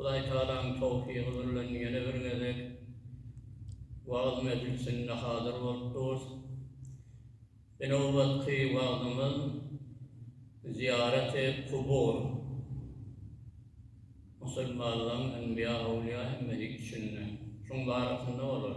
Hudaýtagalaň towfygy bilen ýene bir gezek wagyz mejlisinde hazyr bolupdyrys. Bi nobatky wagzymyz Zyýaraty kubur, musulmanlaň enbiýa, awliýa hem medik içinde, şuň barasynda bolar.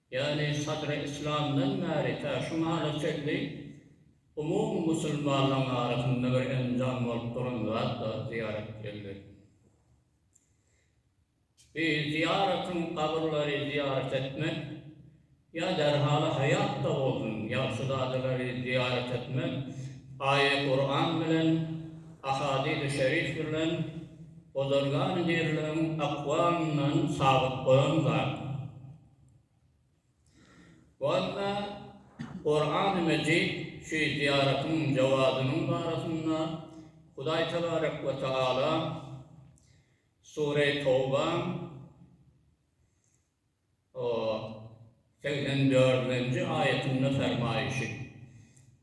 ýagny Sadry Yslamdan bäri tä şu mala çenli umumy musulmanlaryň arasynda bir enjam bolup duran zat zat zyýarat bilendir. Bi zyýaratyň kabyrlary zyýarat etmek ýa derhaly haýatda bolsun ýagşyzadalary zyýarat etmek aýa Kuran bilen ahadis-i şerif bilen ozalgan birligiň akwalyndan sabyt bolan zat. Walla, Kurany Mejit şu zyýaratyň jogabynyň barasynda Hudaý tebarek we teala Sureý Tawbaň segsen dördünji aýatynda fermaýşy,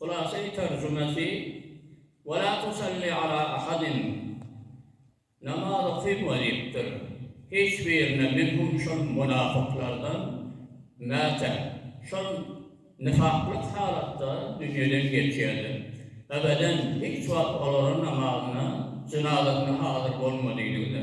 Hulasy terjimesi, Ve la tusalli ala ahadin, Namaz okyma diýipdir, hiç birine minhum şol munafyklardan, mätä, şol nifaklyk halatda dünýeden geçýärler, ebeden hiç wagt olara namazyna, jynazasyna hazyr bolma diýdi-de.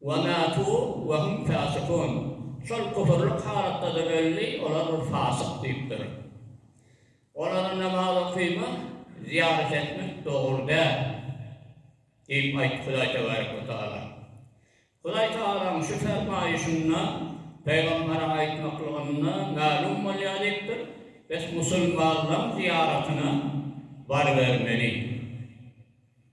Wa matu wa hum fasikun, şol küfürlik halatda-da öldi, olar bir fasyk diýipdir. Olara namaz okyman, zyýarat etmek dogry däl diýip aýtdy Hudaý tebarek we taala. Hudaý tagalaň şu fermaýyşynda pygamberiň aýtmaklygynda mälim bolýar diýipdir, Biz musulmanlaň zyýaratyna barybermeli.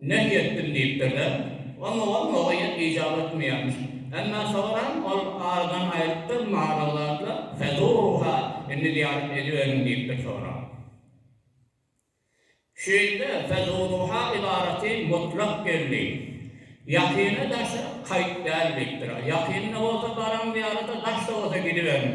Nehy etdim diýipdir-de. Onda ol Nogaýa ijap etmeýärmiş. Emma soňaram ol aradan aýrypdyr, Maral zatla, fezurruha, indi zyýarat ediberiň diýipdir soňra. Şu ýerde fezurruha ybarasy mutlak geldi. Ýakyna daşa kaýt däl diýipdir. Ýakynda bolsa baraň zyýarata, daşda bolsa gidiberiň.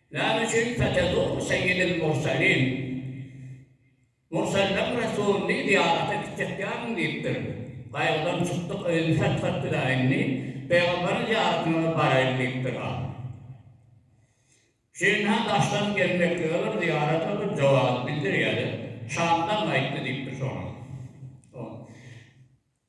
Näme üçin Fetezuru seýidil murselin, Murselleň resulyny zyýarata gitjekýärin diýipdir. Gaýgydan çykdyk, öýüni satgap biler indi, pygamberiň zyýaratyna-da baraýyn diýipdir-ä. Şindi-hä daşdan gelmeklige bir zyýarata bir jogap bildirýä-de, Şamdan gaýtdy diýipdir soňra.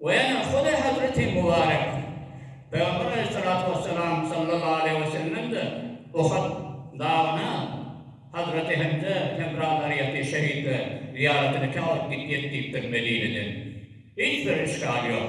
We ene, Hudaý hezreti Mubarek pygamber aleýhissalatu wessalam sallallahu aleýhi we sellemde Uhud dagyna Hazreti Hemze hemra zaryýeti, şehitlere, zyýaraty nikâ bolup gitýek diýipdir Medineden. Hiç bir işgal ýok.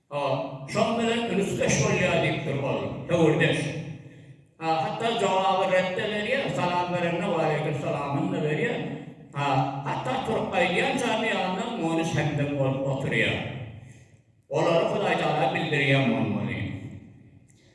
A, şoň bilen ünüsdeş bolýar diýipdir ol. Höwürdeş. A, hatda jogaby ret-de berýär, salam berende waleýkimsalamyny-da berýär. A, hatda turup gaýdýançam ýanynda muny hemdem bolup oturýar. Olary Hudaýtagala bildirýän bolmaly.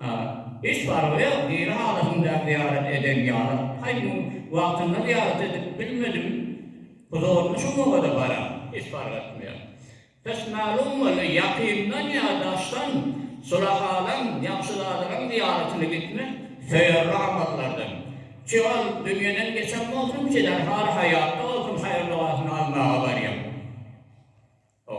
A. Hiç fargy ýok, diri halatymda zyýarat eden ýalyk. Haý, muny wagtynda zyýarat edip bilmedim, huzuryna şu mowada baram, hiç fark etmeýär. Hiç mälim boldy, ýakyndan ýa daşdan sulahalaň, ýagşyzadalaň zyýaratyna gitmek söýerli amallardan. Çi ol dünýeden geçen bolsun, çiler haly haýatda bolsun, haýyr-dogasyny almaga barýan. O.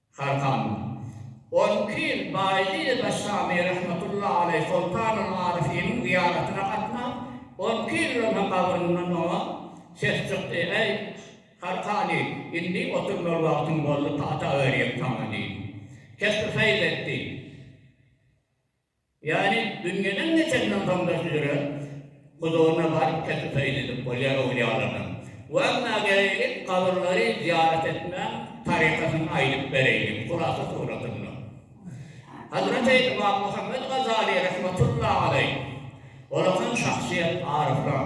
Sarkany. On iki ýyl Baýlyýe Daşşamy rahmetulla aleý Soltanul Aryfynyň zyýaratyna gatnap, on iki ýyldan soň gabryndan oňa ses çykdy, Äý, Sarkany, indi oturmaly wagtyň boldy, pata örýän saňa diýdi. Kesbi feýl etdi. Ýani dünýeden geçenden soň-da süzüren huzuryna baryp teklip edilip bolýar öwlýalardan. Wagna geleýlik, kabyrlary zyýarat etmäň tarykatyny aýdyp bereýin, hulasa suratynda. Hazraty Ymam Muhammet Gazaly rahmetullahi aleýh olakan şahsyýet, aryflar.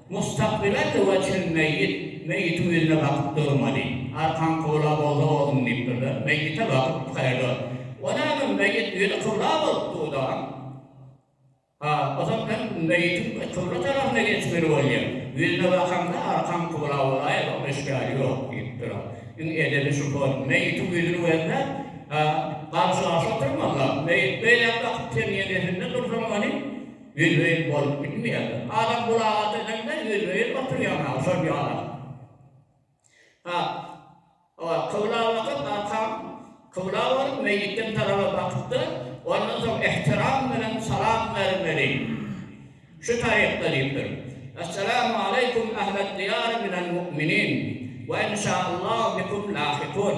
Mustakbele töwe çen meýit, meýitiň ýüzüne bakyp durmaly. Arkaň kybla bolsa ozuň diýip durda, meýite bakyp hyrda. O näme, meýit ýüzi kybla bolup dudam? Ha, o zat bilen meýitiň kybla tarapyna geçmeli bolýa. Ýüzüne bakaňda arkaň kybla bolaýa, zor eşgäri ýok diýip dura. Iň edebi şu hol, meýitiň ýüzüni gözläp, ha, garşy-garşy oturmazlar. Meýit beýläk bakyp sen ýeňesinde dursaň ony, Welwel bolup bilmeýärler. Adam gulaga dönelmez, welwel oturýar naga şol ýala. Ha, oa, kybla bakyp, arkaň kybla bolup, meýitden taraba bakyp-da, ondan soň ähtiram bilen salam bermeli. Şu tarypda diýipdir. Essalamu aleýkum ähled diýar minel mu'minin we inşa Allahu bikum lahikun.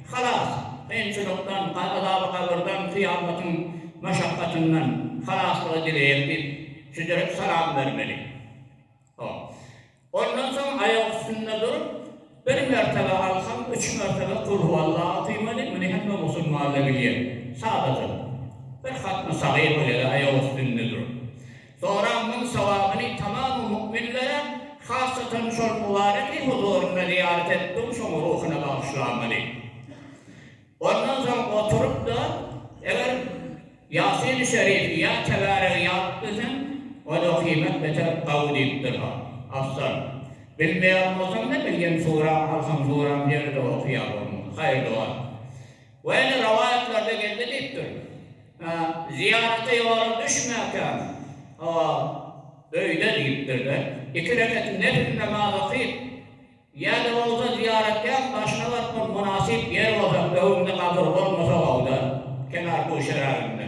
Halas, kynçylykdan, azaby-gabyrdan, kyýamatyň maşakgatyndan halaslyga dileýän diýip, südürip salam bermeli. Hop. Ondan soň aýak üstünde durup, bir mertebe alsaň, üç mertebe Kulhuwallah okymaly, muny hemme musulman-da bilýär. Sadaja. Bir hatmy-sagyr bolýar-da aýak üstünde durup. Soraň müň sogabyny tamamy mukminlere, hassatan şol Mubareki huzuryna zyýarat etdigiň şoň ruhuna bagyşlamaly. Ondan soň oturyp-da, eger Ýasin-i Şerifi ýa Tebaregi ýazyp bilseň, ony okymak beter gawy diýipdir-ha, afzal. Bilmeýän bolsaň-da, bilgen suraňy alsaň, suraň ýene-de oky ýa bolmasa, haýyrly bor. Weli rowaýatlarda geldi diýipdir. Zyýarata ýola düşmäkäm, hawa, öýde diýipdir-de, iki rekat nepil namaz okyp, ýa-da bolsa zyýaratgähiň başyna baryp, ol mynasyp ýer bolsa, öňüňde gabyr bolmasa-ow-da, kenar-guşeragynda.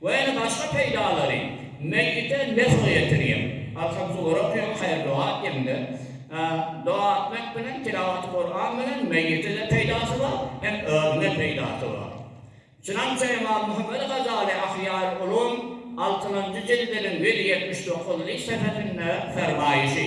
we ýene başga peýdalary, meýite nefg ýetirýär. Arkan suwary okaýan haýyr doga etýäňde, doga etmek bilen, tilawaty Kuran bilen meýite-de peýdasy bar, hem özüne peýdasy bar. Şunamça Emam Muhammet Gazaly Ahyýar Ulum altynjy jildiniň ýüz ýetmiş dokuzynjy sepetinde fermaýşy.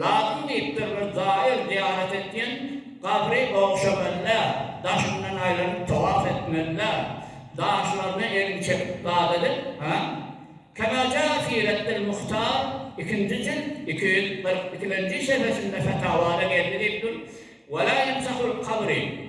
Lazym diýipdir bir gaýyl zyýarat etýän gabry ogşamanda, daşyndan aýlanyp towaf etmende, daşlaryna elini çekip dad edip, ha? Kema jaa fî reddil muhtar, ikinji jilt, iki ýüz kyrk ikilenji sehifesinde fetawada geldi diýip dur, Wela ýemsahul kabri.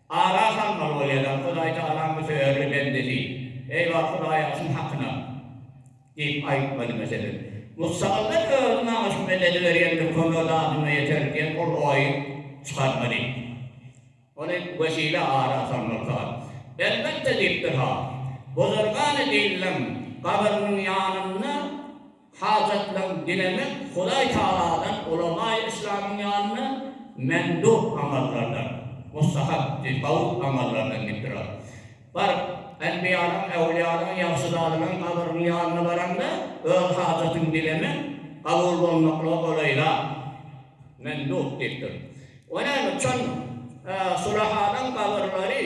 Ara salmaly bolýadan Hudaý Tagalaň bu söýerli bendesi, Eý bar Hudaýa şuň hakyna! diýip aýtmaly. Meselem, Musagyryda öz nagyşy mededi berýändir, kömek zadyma ýeter diýen ol oýy çykarmaly. Ony wesile ara salmaly Tagal. Elbetde diýipdir-ha, Bozargany Dillem gabyrynyň ýanynda. Hajatlaň dilemek Hudaý Tagaladan ulamaý Yslamyň ýanynda mendub amallardan, mustahap diýip, hawy amallardan diýip durar. Baryp, enbiýalaň, äwliýalaň, ýagşyzadalaň gabrynyň ýanyna baraňda, öz hajatyňy dilemek kabul bolmaklyga golaýrak, mendub diýipdir. O näme, çon, sulahalaň gabyrlary.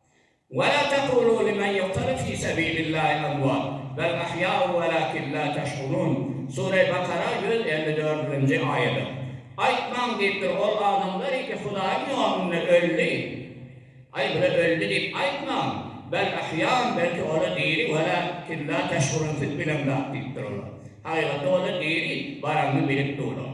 Ve la tekulu limen yuktalu fi sebilillahi emvat, bel ahya'u velakin la teş'urun, Sure-i Bakara ýüz elli dördünji aýadyr. Aýtmaň diýipdir, ol adamlary ki Hudaýyň ýolunda öldi. Aý, bula öldi diýip aýtmaň, bel ahya'un, belki ola diri, velakin la teş'urun, siz bilen zat diýipdir olar. Hakykatda ola diri, baranyny bilip durlar.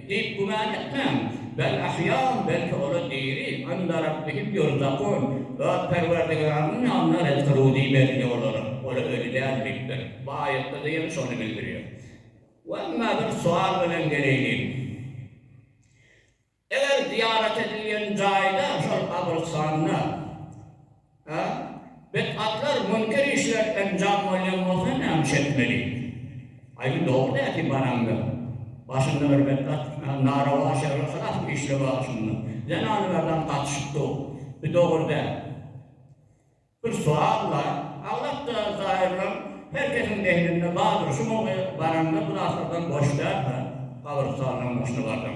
Diýip güman etmäň. Bel ahýam, belki ol-a diri. Ynda Rabbihim ýurzagun, Zat Perwerdigarymyň ýanyna ryzky ruzy berilýär olara. Ol-a öli däl diýipdir. Bu aýatda-da ýene şony bildirýär. We emma bir sual bilen geleýliň. Eger zyýarat edilýän jaýda, şol gabrystanda, A. Betbatlar münker işler enjam bolýan bolsa näme iş etmeli? Aý, dogry nädip baraňda, başynda bir betbat narowaz şerli hylas bir işle bar şunda. Zenany berdan gatyşyp dur. Bu dogry däl. Bir suwal bar, aglapda zaýyrlaň her kesiň zehninde bardyr, şu gün baraňda bu zatlardan boş däl-hä, gabyrystalnyň başyna barsaň.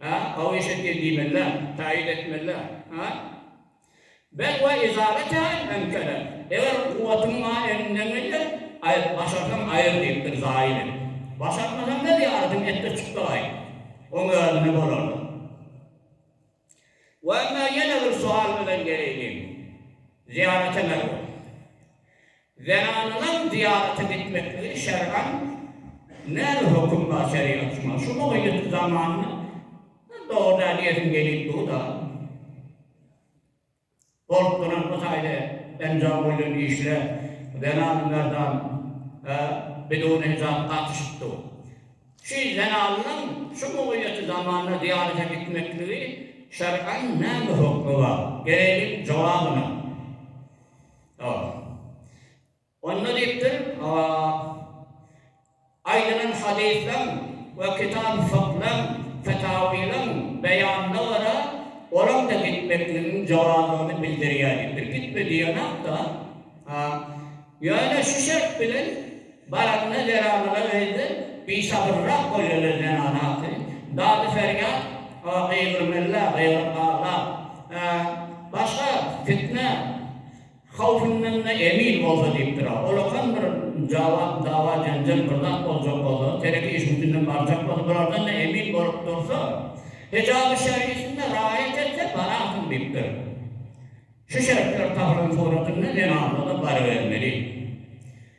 A. Hawa eşetgil diýmeli-dä, taýyn etmeli-dä. A. Bel we izara tälim hem kerek. Eger kuwwatyň maňa elimden gelýär, aýt, başarsaň aýyr diýipdir zaýyny. Başartmasaň-da zyýaratyňy etdir çykdagaý. Oň özüne bolardyk. We emma ýene bir sual bilen geleýliň. Zyýarata merhup. Zenanlaryň zyýarata gitmekligi şer'an näme höküm bar şerigat şuňa şu mugylyk zamanna dogry däl diýesim gelip durda bolup duran bu taýda enjam bolýan işle zenan merdan e bidun hijap gatyşyp dur şu zenanlaryň şu mugylyk zamanna zyýarata gitmekligi şer'an näme hökmi bar gereýli jogabyna. A. Onda diýipdir, A. Aýdylan hadyslaň we kitap-y fyklaň, fetawylaň beýanyna görä, olaň-da gitmekligiň jowazyny bildirýär diýipdir. Gitme diýenok-da. A. Ýöne şu şert bilen, Baryna zenanlara öýde bişabyrrak bolýarlar zenana atyn dady ferýat gygyrmella gygyryp aglap başga fitne howfyndanda emin bolsa diýipdir a olakan bir jawap dawa jenjel bir zat boljak bolsa tereke işiň içinden barjak bolsa bulardanda emin bolup dursa hijaby şergisinde raýat etse bararsyň diýipdir şu şertler tahyryň suratynda zenanlarda barybermeli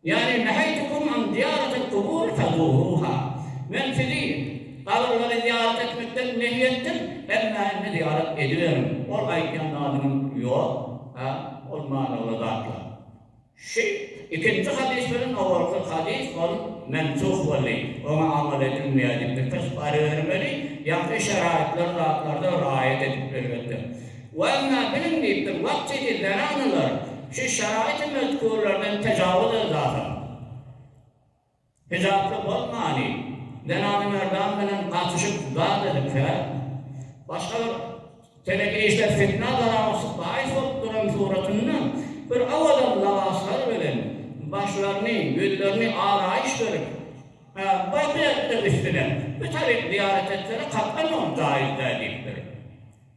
Ýagny, Neheytukum an zyýaratil kubur fezuruha, Men sizi gabyr-lary zyýarat etmekden nehy etdim, emma indi zyýarat ediberiň. Ol aýdýan zadynyň Ýok, a, ol manyly zatlar. Şu ikinji hadys bilen owalky hadys ol mensuh boldy, oňa amal edilmeýär diýip, bir tys barybermeli, ýaňky şeraýatlar zatlarda raýat edip, elbetde. Wagna biliň diýip bir wagt idi Beranalar şu şaraýty mötgürlerden tejawuz elzasyň hijaply bolmany Zenany Merdan bilen gatyşyp zat edipsär. Başga bir teleki işler fitna zarawasyz baýys bolup duran suratynda bir awadan labaslar bilen başlaryny ýüzlerini araýyş berip baky etdiň üstüne bir tarik zyýarat etsene kakgan oň jaýyz däl diýipdir.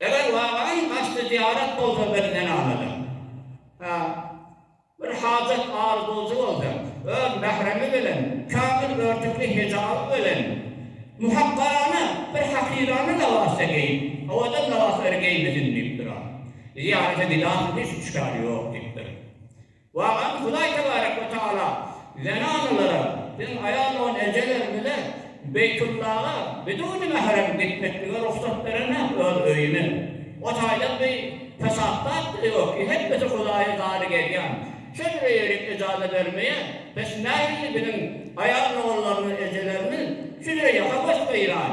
Eger Garaý haçly zyýarat bolsa biz men alada. Hä, bir hajat arzuwjy bolsa, öz mähremi bilen, kämil örtükli hijaby bilen, muhakgarana bir hakyrana lybas-da geýip, owadan lybaslar geýmesin diýipdir-a. Zyýarata gidasy hiç üçkär ýok diýipdir. Wagam Hudaý tebarek we tagala zenanalara siziň aýal dogan ejeleriňize Beýtullaga biduni mährem gitmeklige rugsat berenä öz öýüne. O taýdan bi pesat zat-da ýok-y hemmesi Hudaýa zary gelýän. Şol bire ýerik ejaza bermeýä. Bes nähili biziň aýal doganlarymyz ejelerimiz şu bire ýaka goş gyran.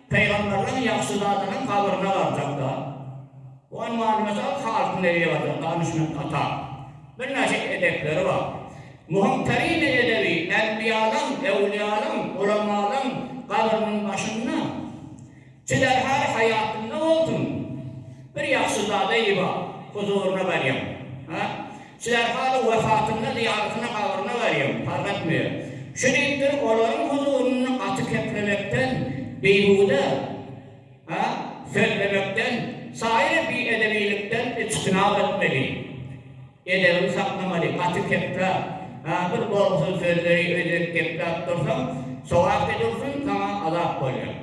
Pygamberleriň ýagşy zadynyň habaryna garjakda, onuň many-mysal halkyn edebiýatyna ganyşmak atar. Birnäçe edepleri bar. Muhym terini edebi enbiýalaň, ewliýalaň, ulamalaň gabrynyň başynda, çiderhal haýatynda bolsun, bir ýagşy zada iba, huzuryna barýaň. Şular haly wehasynda zyýalysyna gabryna barýan Farhat Müýe şu diýipdir, olaryň huzurynda gaty keplemekden, bihuda, ha, sözlemekden, saýry biedebiylikden içtinap etmeli. Edebiňi saklamaly, gaty kepläp, ha, bir bolgusyz sözleri öýdüp kepläp dursaň, sowak edilsin, saňa azap bolýar.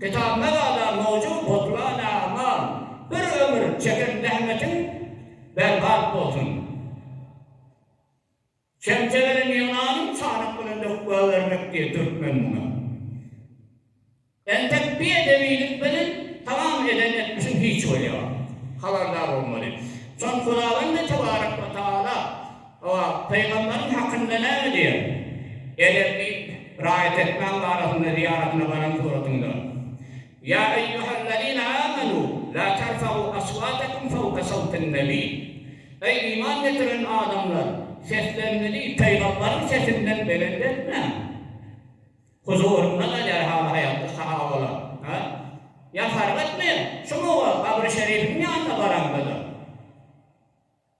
Kitabyma gala mowjud botulan agmar bir ömür çeken zähmetiň berbat bolsun. Çemçe bilen ýygnanyň çanak bilen döküp goýbermek diýen türkmen muňa. Entek bi edebilik bilen tamam eden etmişiň hiç bolýa. Habardar bolmaly. Şon Hudawende tebarek we taala. Hawa, pygamberiň hakynda näme diýer? Eger diýip, raýat etmäň barasynda zyýaratyna baran suratyňda, Ýa eýýuhellezine âmenû, la terfeû eswâtekum fewke sewtin nebî, Eý, iman getiren adamlar, sesleriňizi pygamberiň sesinden belent etmäň! Huzurynda galýar haly-haýaldyr sahabalar. Hä? Ýa fark etmeýär. Şumy wagt, gabry şerifiň ýanyna baraňda-da.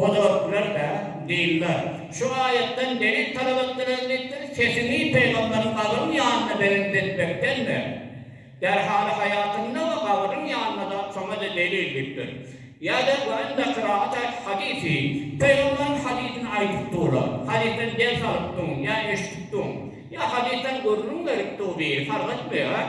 Hojalyklary-da, dynlar, şu aýatdan delil talap etdiler diýipdir, sesiňi pygamberiň gabyryň ýanyna belent etmekden ber. Derhaly haýatynda we gabyryň ýanynda zat şoňa-da delil diýipdir. Ýa-da we inde kiraat aýt hadysy, pygamberiň hadysyny aýdyp durlar, hadysdan ders alyp duň, ýa eşidip duň, ýa hadysdan gürrüň berip dur diýi fark etmeýär.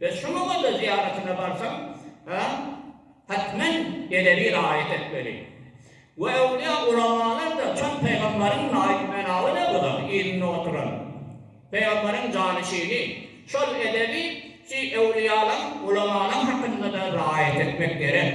Biz şunuňada zyýaratyna barsaň, hetmen edebi raýat etmeli. We öwlüýa ulamalar da çyn pygamberiň naýyp menawy ne bular yzynda oturan. Pygamberiň janyşini, şol edebi şi öwlüýalaň, ulamalaň hakynda da raýat etmek gerek.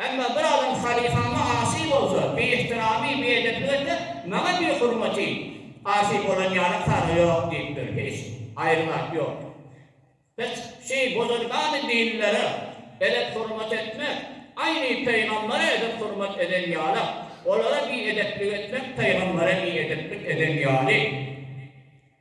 Emma bir adam halyfama asy bolsa, biihtiramy, biedepligi etse, maňa bihurmaty, asy bolan ýaly kary ýok diýipdir. Hiç aýry zat ýok. Hiç şy buzurgany dinlere edep hurmat etmek, aýny pygambere edep hurmat eden ýaly, olara biedepligi etmek pygambere biedeplik eden ýaly.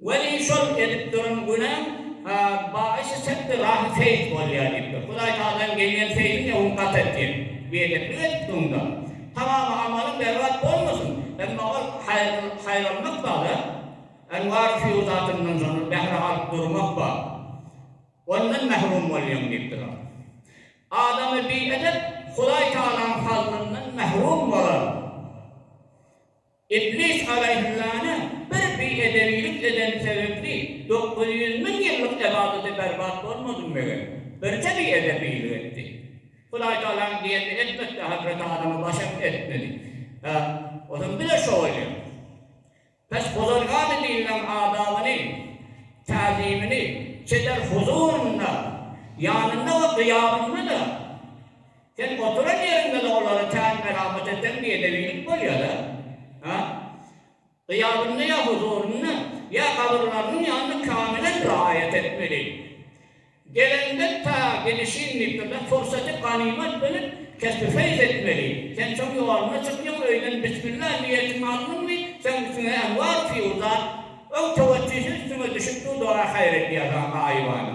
Welin şol edip duran günäm bagyşy çekdi rahy seýit bolýa diýipdir. Hudaý tagalam gelýän seýdiňe hun gat et diýip, biedeplik edipdiňda. Tamamy amalyň berbat bolmasyn, emma ol haýranlyk bar-a. Enwar Hüýr zatyndan şonda bähre alyp durmak bar. Ondan mährum bolýaň diýipdir. Adamy biedep Hudaý tagalaň fazlyndan mährum bolar. Iblis alaýhyssalamy bir biedebilik edeni sebäpli dokuz ýüz müň ýyllyk ybadaty berbat bolmady meger. Birje biedebilik etdi. Hudaýtagalaň diýenini etmekde Hazreti Adama başam etmedi. Hä, ozam bile şo bolýar. Pes bozargany diýileniň adabyny, täzimini çeper huzurynda, ýanynda we gyýabynda-da. Sen oturan ýeriňde-de olary tän melamat eten biedewillik bolýar-a. Hä? Gyýabynda ýa huzurynda, ýa gabyrlarynyň ýanynda kamilen raýat etmeli. Gelenden ta gidişin diýipdirler, pursaty ganymat bilip, kesbi-feýz etmeli. Sen şoň ýoluna çykýaň, öýden bismilla niýetiňi aldyňmy, seň üstüňe enwar-fiýuzat, öw-töwetjisi üstüňe düşüp dur, dua-haýyr edýär saňa gaýybana.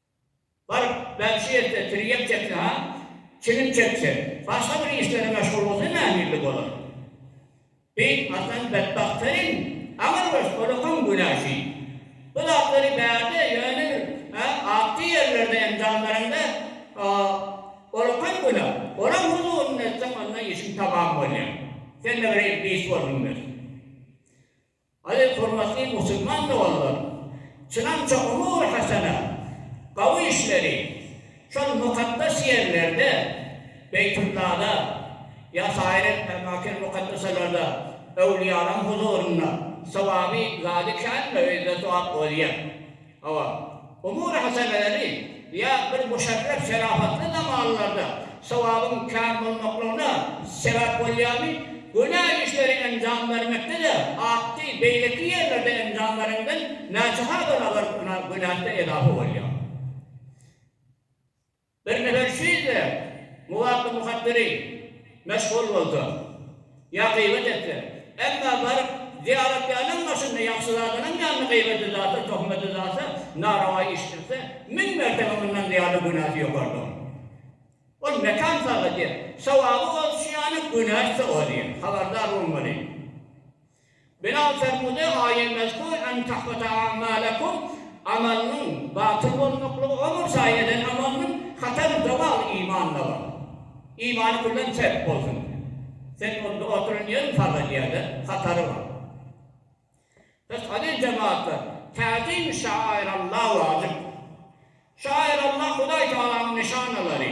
Bar, belki şu ýerde tirýek çekse han, çilim çekse, başga bir işlere meşgul bolsa nähili bolar? Beýik Hasan betbagt Selim aňyrbaş olakan günaşy. Bu zatlary bärde ýöne bir, hä, atly ýerlerde enjam bereňde, o, olakan günah. Olaň huzurynda etseň, onda işiň tamam bolýar. Sende bir iblis bolsun, bes. Aziz hormatly musulman doganlarym! Çynança umur hasana, gawy işleri şol mukaddes ýerlerde, Beýtullada, ýa saýr etme makin mukaddeselarda, öwlüýalaň huzurynda sowaby zady känmi, öýde sowap bolýa. Hawa, umury hasabeleri ýa bir muşerref şerafatly zamanlarda sowabyň kän bolmaklygyna sebäp bolýarmy, günä işleri enjam bermekde-de artdy, beýleki ýerlerde enjam bereňden näçe-ha barabar günäsi-de edafa bolýar. Bir gezek siz-de Muwapy Muhabbiri meşhur bolsa, ýa gyýbat etse, emma baryp zyýaratgähiň başynda ýagşyzadanyň ýanynda gyýbat edasa, tohmat edasa, narawa iş etse, müň mertebe mundan zyýada günäsi ýokardygyny. Ol mekan salgy diýen. Sowaby ol şiýany, günäsi-de o diýen. Habardar bolmaly. Bilal Fermude Aýemeşku en tahbata a'malekum Amalynyň batyl bolmaklygy o bolsa eden amalynyň hatar zowal iman-da bar. Imany küllen çep bolsun. Sen onda oturan ýeriň farz edýäde hatary bar. Pes aziz jemaatlar, tazim-i şairallah wajyp. Şairallah Hudaý Tagalanyň nyşanalary.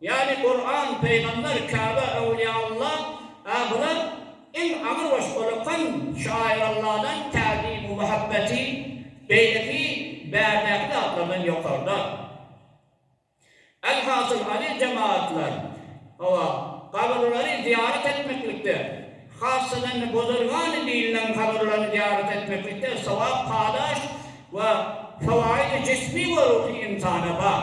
Ýaly Kuran, Pygamber, Käbe, Öwliýaulla, Ahyret, iň agyr we şolakan şaýyr Alladan täzimi muhabbeti beýleki bärdäki zatlardan ýokarda. Elhasyl aziz jemagatlar, hawa, gabrylary zyýarat etmeklikde, hassadan-da bozulgany diýilnen gabrylary zyýarat etmeklikde sogap-kadaş we fawaýdy jismi we ruhy ynsana bar.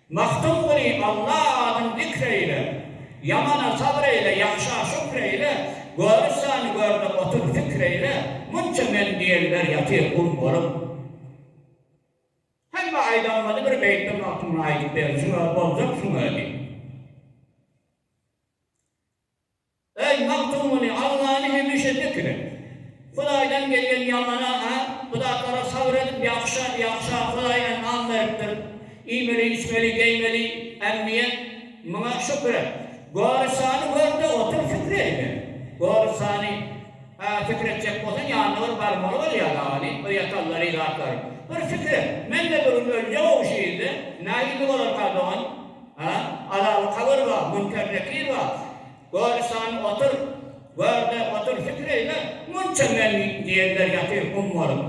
Magtym güni Alla adyn zikr eýle, Ýamana sabr eýle, ýagşa şükr eýle, Görüssäni görde otur pikir eýle, Munça men diýenler ýatyr gum bolup. Hemme aýdanlary bir beýtde Magtymguly aýdyp berjek, boljak şuň özi. Eý, Magtymguly, Allany hemişe zikr et. Hudaýdan gelýän ýamana-a, bu zatlara sabyr edip, ýagşa, ýagşa, Hudaý enam beripdir. Iýmeli, içmeli, geýmeli, ämmiýet, muňa şükür et. Gorysany gör-de otur, pikir ediber. Gorysany, a, pikir etjek bolsaň, ýanyna bir barmaly bolýar dagy, ine, bir ýatallary, zatlary. Bir pikir et, men-de bir gün öljek-ow şu ýerde. Nähili bolarka, dogan? Hä, alaly kagyr ba, münker nekir ba. Gör isan otur, gör-de otur, pikir eýle. Munça men diýenler ýatyr gum bolup.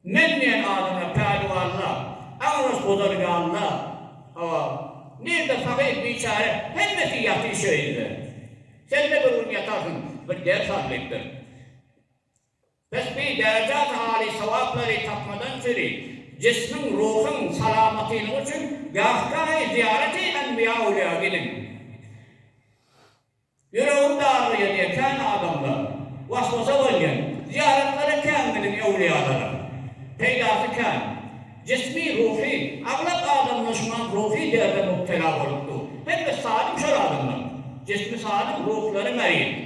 Men diýen adamlar päliwanlar, aňras gudar ýalylar. Hawa, nirde fakyr biçäre, hemmesi ýatyr şeýle. Sen-de bir gün ýatarsyň, bir ders al diýipdir. Tesbi derejat aly sogaplary tapmadan sizi, jismiň, ruhyň salamatynyň üçin gahgahý zyýarati enbiýa ulyýa gidiň. Ýüregin dargaýan ýekän adamlar, waswasa bolýan, zyýaratlary kän gidiň ewliýalara. Peýdasy kän. Jismi, ruhy, aglap adamlar şuňam ruhy derde mubtela bolup dur. Hemme salym şol adamlar. Jismi salym, ruhlary merit.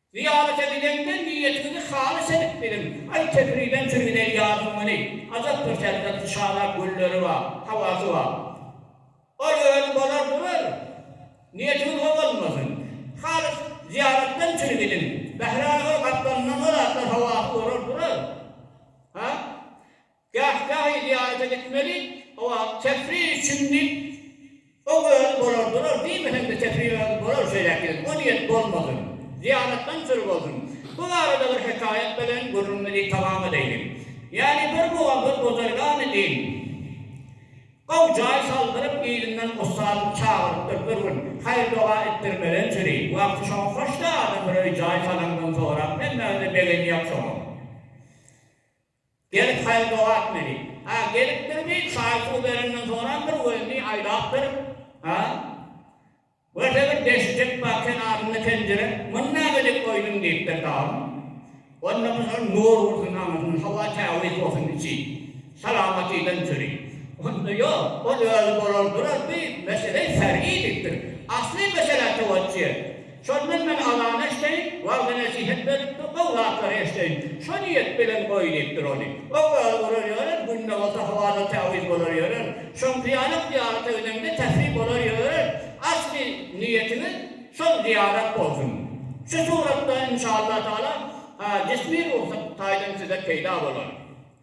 Zyýarata gidende niýetiňizi halys edip gidiň. Aý Kepiriden çürgüdeý ýazyň güni. Ajap bir serhetli şala gülleri bar, hawasy bar. Ol özi bolar durar. Niýetiňiz o bolmasyn. Halys zyýaratdan çürgüdiň. Bähraly ol gapdalyndan o zatlar hawasy bolar durar. Ha? Gahgahy zyýarata gitmeli, hawa, tefri üçindi, o özi bolar durar, diýmesem-de tefri özi bolar şeýläk gezek, o niýet bolmasyn, zyýaratdan süri bolsun. Bu barada bir hekaýat bilen gürrüňimizi tamam edeýlik. Ýaly bir mugam bir buzergany deýin, gowy jaý saldyryp, yzyndan ussadyny çagyrypdyr, bir gün, haýyr-doga etdirmeden süri, wagty şoňa hoş-da, adam bir öý-jaý salaňdan sorap, hemmäňize begenýär şoňa. Gelip saýa dogap meni. Ha, gelipdirmi, çaý-suw bereňden sorandyr we indi aýlapdyr. Ha? Görse bir deşijek bar kenarynda penjire. Muny näme edip goýduň? diýipdir Dagym. Onda bu şol nur ursun aňyrsyna, howa tämiz bolsun içi. Salamatydan çüri. Onda ýok, ol özi bolar durar, bi mesele sergi diýipdir. Asly mesele towaççy. Şondan men azan eşdeýin, wagzy-nesihet berlipdir, gowy zatlary eşdeýin. Şo niýet bilen goý diýipdir ony. Ol gal urar ýörer, günde bolsa hawa-da täwiz bolar ýörer. Şoň pyýalak zyýarata gidende tesbih bolar ýörer. Asly niýetiňiz şol zyýarat bolsun. Şu suratda, inşaallah-taala, jismi-ruhsat taýdan size peýda bolar.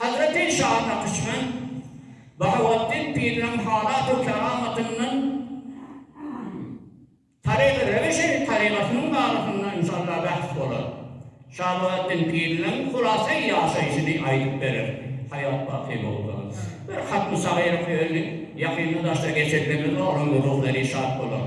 Hazreti Şa Nakşbend Bahaweddin Piriň halat-u keramatyndan, Tarygy Rewi Şerif tarygatynyň barasynda inşallah bähs bolar. Şa Bahaweddin Piriň hulasai ýaşaýşyny aýdyp berer, haýat baky bolsa. Bir hatmy sagyr oky öli, ýakynda daşda geçirilmez, onuň ruhlary şat bolar.